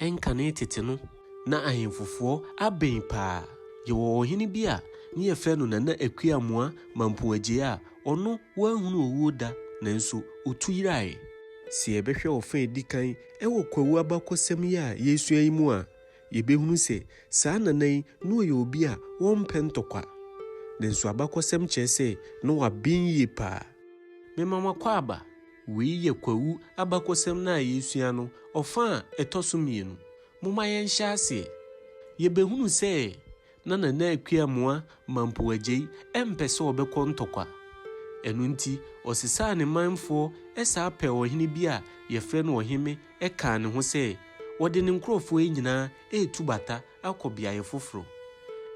Ɛnkane tete no, na ahemfofoɔ abɛn paa. Yɛwɔ ɔhene bi a ne yɛfrɛ no Nana Akua-Amoah Mampong Adjei a ɔno wanhunu owuo da nanso ɔtu yeraeɛ. Sɛ yɛbɛhwɛ ɔfa a ɛdi kan wɔ Kwawu abakɔsɛm yi a yɛresua yi mu a, yɛbɛhunu sɛ saa Nana yi na ɔyɛ obi a ɔmpɛ ntɔkwa. Nanso abakɔsɛm kyerɛ sɛ na waben yie paa. Mema mo akwaaba, Wei yɛ Kwawu abakɔsɛm no a yɛresua no ɔfã a ɛtɔ so mmienu. Momma yɛnhyɛ aseɛ. Yɛbɛhunu sɛ na Nana Akua Moa Mampo Agyei mpɛ sɛ ɔbɛkɔ ntɔkwa. Ɛno nti ɔsesaa ne manfoɔ saa pɛɛ ɔhene bi a yɛfrɛ no Ɔheme kaa ne ho sɛ ɔde ne nkorɔfoɔ nyinaa retu bata akɔ beaeɛ foforɔ.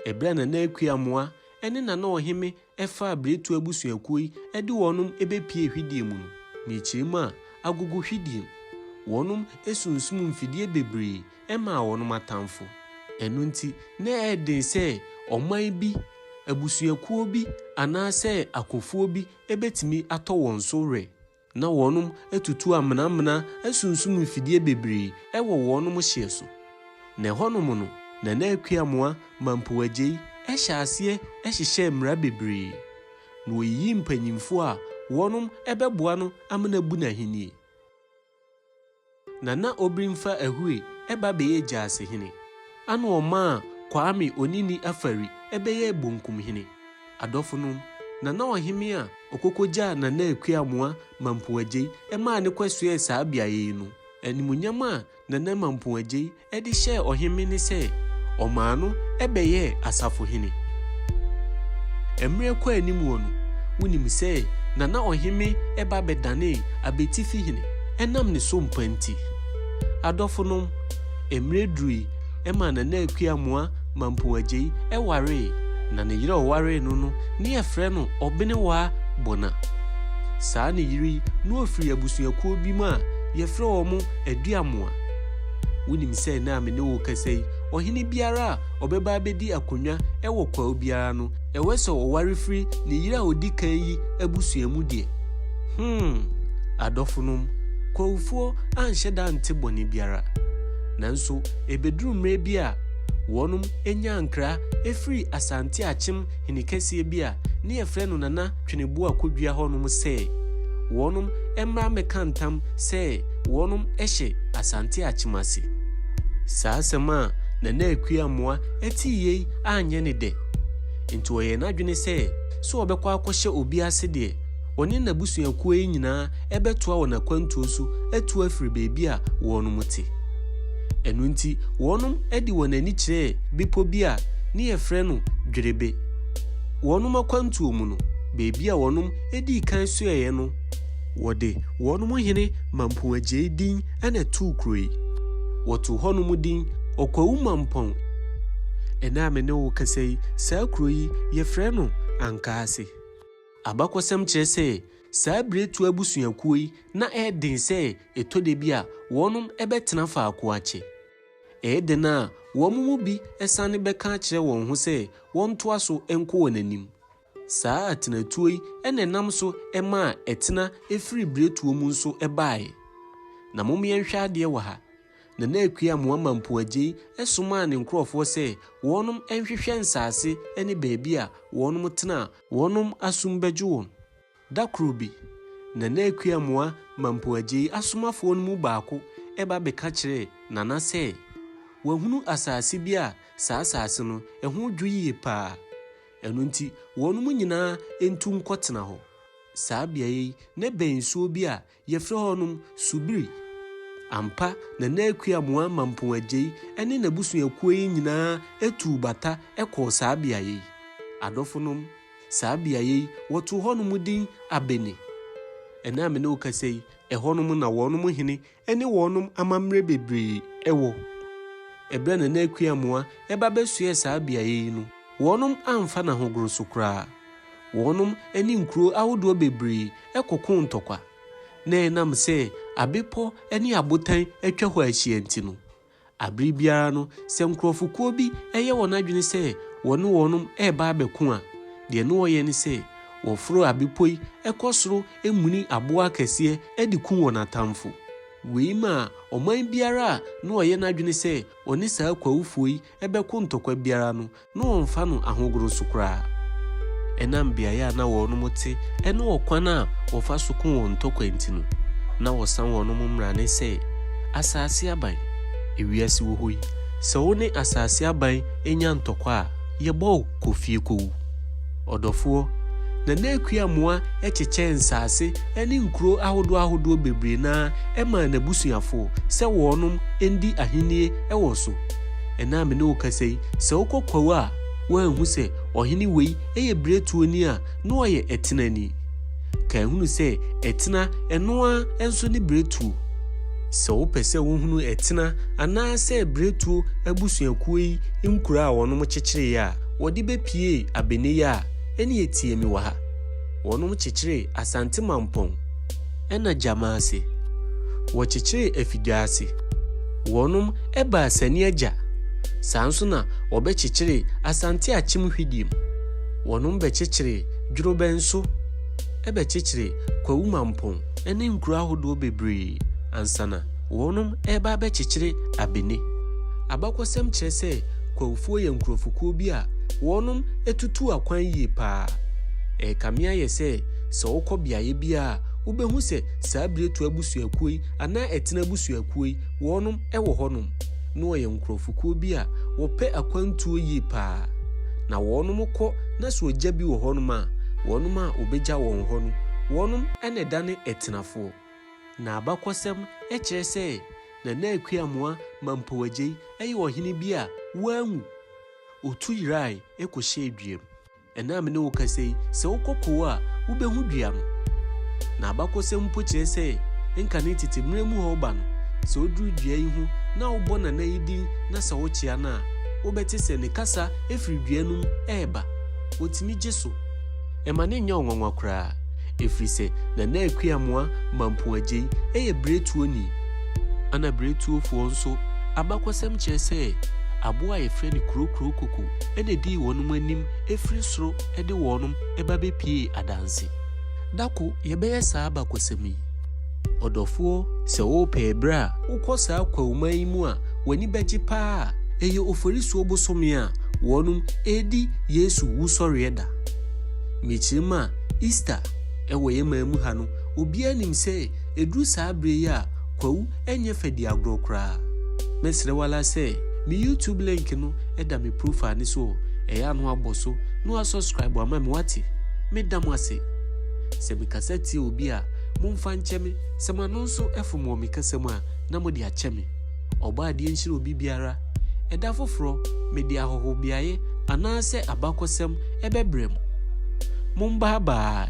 Ɛberɛ a Nana Akua Moa ne Nana Ɔheme ɛfa a Biretuo abusuakuo yi de wɔnom bɛpie hwideɛ mu no, na akyire mu a agogo hwideɛ mu. Wɔnom sunsum mfidie bebree maa wɔnom atamfo. Ɛno nti na ɛyɛ den sɛ ɔman bi, abusuakuo bi anaasɛ akofoɔ bi bɛtumi atɔ wɔn so werɛ. Na wɔnom atutu amenamena asunsum mfidie bebree wɔ wɔnom hyeɛ so. Na ɛhɔnom no, Nana Akuamoah Mampoh Adjei hyɛɛ aseɛ hyehyɛɛ mmara bebree. Na ɔyiyii mpanyimfoɔ a wɔnom bɛboa no ama no abu n'ahennie. Nana Obrimfa Ahui ba bɛyɛ Gyaase hene. Ana ɔmaa Kwame Onini Afari bɛyɛɛ Bonkum hene. Adɔfonom, Nana Ɔheme a ɔkɔkɔgyaa Nana Akua Amoah Mampoagyei maa no kɔsoɛɛ saa beaeɛ yi no, animuonyam a Nana Mampoagyei de hyɛɛ ɔhemmea ne sɛ ɔmaa no bɛyɛɛ asafohene. Mmerɛ kɔɔ anim hɔ no, wonim sɛ na na ɔhemmea ba bɛdanee abatifi hene ɛnam ne so mpa nti. Adɔfonom, mmerɛ durui ma Nana Akua Moa Mampong Agyei waree, na ne yerɛ a ɔwaree no no ne yɛfrɛ no Ɔbenewaa Bona. Saa ne yere yi na ɔfiri abusuakuo bi mu a yɛfrɛ wɔn Aduamoa. Wunim sɛ nnɛ a me ne wo rekasa yi, ɔhene biara a ɔbɛba abedi akonnwa wɔ kwaw biara no, ɛwɔ sɛ ɔware firi ne yere a odi kan yi abusua mu deɛ? Hmm! Adɔfonom, kwawfoɔ anhyɛ da ante bɔne biara. Nanso ebeduru mmerɛ bi a wɔnom nyaa nkra firii Asante Akyem hene kɛseɛ bi a ne yɛfrɛ no Nana twene bua kodua hɔ nom sɛ wɔnom mmra mmɛka ntam sɛ wɔnom hyɛ Asante Akyemase. Saa asɛm a Nana Akua Amoah tee yei anyɛ ne dɛ, nti ɔyɛɛ n'adwene sɛ sɛ ɔbɛkɔ akɔhyɛ obi ase deɛ, ɔne n'abusuakuo yi nyinaa bɛtoa wɔn akwantuo so atu afiri baabi a wɔnom te. Ɛno nti wɔnom de wɔn ani kyerɛɛ bepɔ bi a ne yɛfrɛ no Dwerebe. wɔnom akwantuo mu no, baabi a wɔnom dii kan soɛeɛ no, wɔde wɔnom hene Mampong Agyei din na too kuro yi. Wɔtoo hɔnom din Ɔkwawu Mampong. Ɛnnɛ a me ne wo kasa yi, saa kuro yi, yɛfrɛ no Ankaase. Abakɔsɛm kyerɛ sɛ, saa Biretuo abusuakuo yi na ɛyɛ den sɛ ɛtɔ da bi a, wɔnom bɛtena faako akyɛ. Ɛyɛ dɛn a wɔn mu bi san bɛka akyerɛ wɔn ho sɛ wɔntoa so nkɔ wɔn anim? Saa atenatuo yi na ɛnam so maa ɛtena firi biretuo mu nso baeɛ. Na mom yɛnhwɛ adeɛ wɔ ha. Nana Akua Amoama Mpuagyei somaa ne nkorɔfoɔ sɛ wɔnom nhwehwɛ nsaase ne baabi a wɔnom tena a wɔnom asom bɛgye wɔn. Da koro bi, Nana Akua-Amoah ma mpoagyei asomafoɔ no mu baako ba bɛka kyerɛɛ Nana sɛ wahunu asase bi a saa asase no ho dwo yie paa, ɛno nti wɔnom nyinaa ntu nkɔtena hɔ. Saa beaeɛ yi na ɛbɛn nsuo bi a Yɛfrɛ hɔnom Subiri. Ampa, Nana Akua Muama Mpoagyei ne n'abusuakuo yi nyinaa tuu bata kɔɔ saa beaeɛ yi. Adɔfonom, saa beaeɛ yi, wɔtoo hɔnom din Abene. Ɛnnɛ a me ne wo kasa yi, ɛhɔnom na wɔnom hene ne wɔnom amammerɛ bebree wɔ. Ɛberɛ a Nana Akua Mua ba bɛsoɛɛ saa beaeɛ yi no, wɔnom amfa no ahogono so koraa. Wɔnom ne nkuro ahodoɔ bebree kɔkoo ntɔkwa, na ɛnam sɛ abepɔ ne abotan atwa hɔ ahyia nti no, abere biara no sɛ nkorɔfokuo bi yɛ wɔn adwene sɛ wɔne wɔnom reba abɛko a, deɛ na wɔyɛ ne sɛ wɔforo abepɔ yi kɔ soro muni aboɔ akɛseɛ de ku wɔn atamfo. Wei maa ɔman biara a na ɔyɛ n'adwene sɛ ɔne saa Kwawufoɔ yi bɛko ntɔkwa biara no na wɔmfa no ahogono so koraa. Ɛnam beae a na wɔnom te ne ɔkwan a wɔfa so ko wɔn ntɔkwa nti no, na wɔsa wɔnom mmrane sɛ asase aban. Ewiase wɔ hɔ yi, sɛ wo ne asase aban nya ntɔkwa a, yɛbɔ wo kɔ fie kowu. Ɔdɔfoɔ, Nana Akua Amoah kyekyɛɛ nsase ne nkuro ahodoɔ ahodoɔ bebree no ara maa n'abusuafoɔ sɛ wɔnom ndi ahennie wɔ so. Ɛnnɛ a me ne wo kasa yi, sɛ wokɔ kwawu a, woanhu sɛ ɔhene wei yɛ biretuoni a na ɔyɛ ɛtenani? Kan hunu sɛ ɛtena, ɛno ara nso ne biretuo. Sɛ wopɛ sɛ wohunu ɛtena anaasɛ biretuo abusuakuo yi nkuro a wɔnom kyekyereeɛ a wɔde bɛpuee abɛnɛ yi a, ɛneɛ tie me wɔ ha. Wɔnom kyekyeree Asante Mampɔn. na gyama ase. Wɔkyekyeree afidwa ase. Wɔnom baa Sani Agya. Saa nso na wɔbɛkyekyeree Asante Akyem Hwidim. Wɔnom bɛkyekyeree Dworobɛn so bɛkyekyeree Kwawu Mampong ne nkuro ahodoɔ bebree ansana wɔnom reba abɛkyekyere Abene. Abakɔsɛm kyerɛ sɛ Kwawufoɔ yɛ nkurɔfokuo bi a wɔnom tutuu akwan yie paa. Ɛrekame ayɛ sɛ Sɛ wokɔ beaeɛ biara a, wobɛhu sɛ saa Biretu abusuakuo yi anaa Ɛtena abusuakuo yi, wɔnom wɔ hɔnom. Na wɔyɛ nkorɔfokuo bi a wɔpɛ akwantuo yie paa. Na wɔnom kɔ na sɛ ɔgya bi wɔ hɔnom a, wɔnom a wɔbɛgya wɔn hɔ no, wɔnom na ɛdane Ɛtenafoɔ. Na abakɔsɛm kyerɛ sɛ Nana Akua Amoah Mampow Agyei yɛ ɔhene bi a wanwu. Ɔtu yerae kɔhyɛɛ duam. Ɛnnɛ a me ne wo kasa yi, sɛ wokɔ kow a, wubehu dua no. Na abakɔsɛm mpo kyerɛ sɛ nka ne tete mmere mu hɔ wo ba no, sɛ oduru dua yi ho na wobɔ Nana yi din na sɛ wokyea no a, wobɛte sɛ ne kasa firi dua no mu reba. Otumi gye so. Mma no nyɛ wo nwanwa koraa, ɛfiri sɛ Nana Akuamoah Mampong Adjei yɛ berɛtuoni. Ɛna berɛtuofoɔ nso, abakɔsɛm kyerɛ sɛ aboa a wɔfrɛ no Kurokuro Koko. na edii wɔnom anim firi soro de wɔnom ba bɛpiee adanse. Da ko yɛbɛyɛ saa abakɔsɛm yi. Ɔdɔfoɔ, sɛ wopɛ ɛberɛ a wokɔ saa kwawuma yi mu a w'ani bɛgye paa a, ɛyɛ Oforisuo bosome a wɔnom redi Yesu Wusɔreɛ da. Mekyiri mu a, Easter wɔ yɛn man mu ha no, obiara nim sɛ ɛduru saa berɛ yi a kwawu ɛnyɛ fɛ di agorɔ koraa. Mɛsrɛ wo ara sɛ me YouTube link no da me profile no so o, ɛyɛ a na woabɔ so na woasɔscribe ama me woate? Meda mo ase. Sɛ me kasa tia obi a, momfa nkyɛ me, sɛ m'ano nso fom wɔ me kasa mu a, na mode akyɛ me. Ɔbɔadeɛ nhyira obi biara. Ɛda foforɔ, mede ahɔhobeaeɛ anaasɛ abakɔsɛm bɛbrɛ mo. Mom bye bye!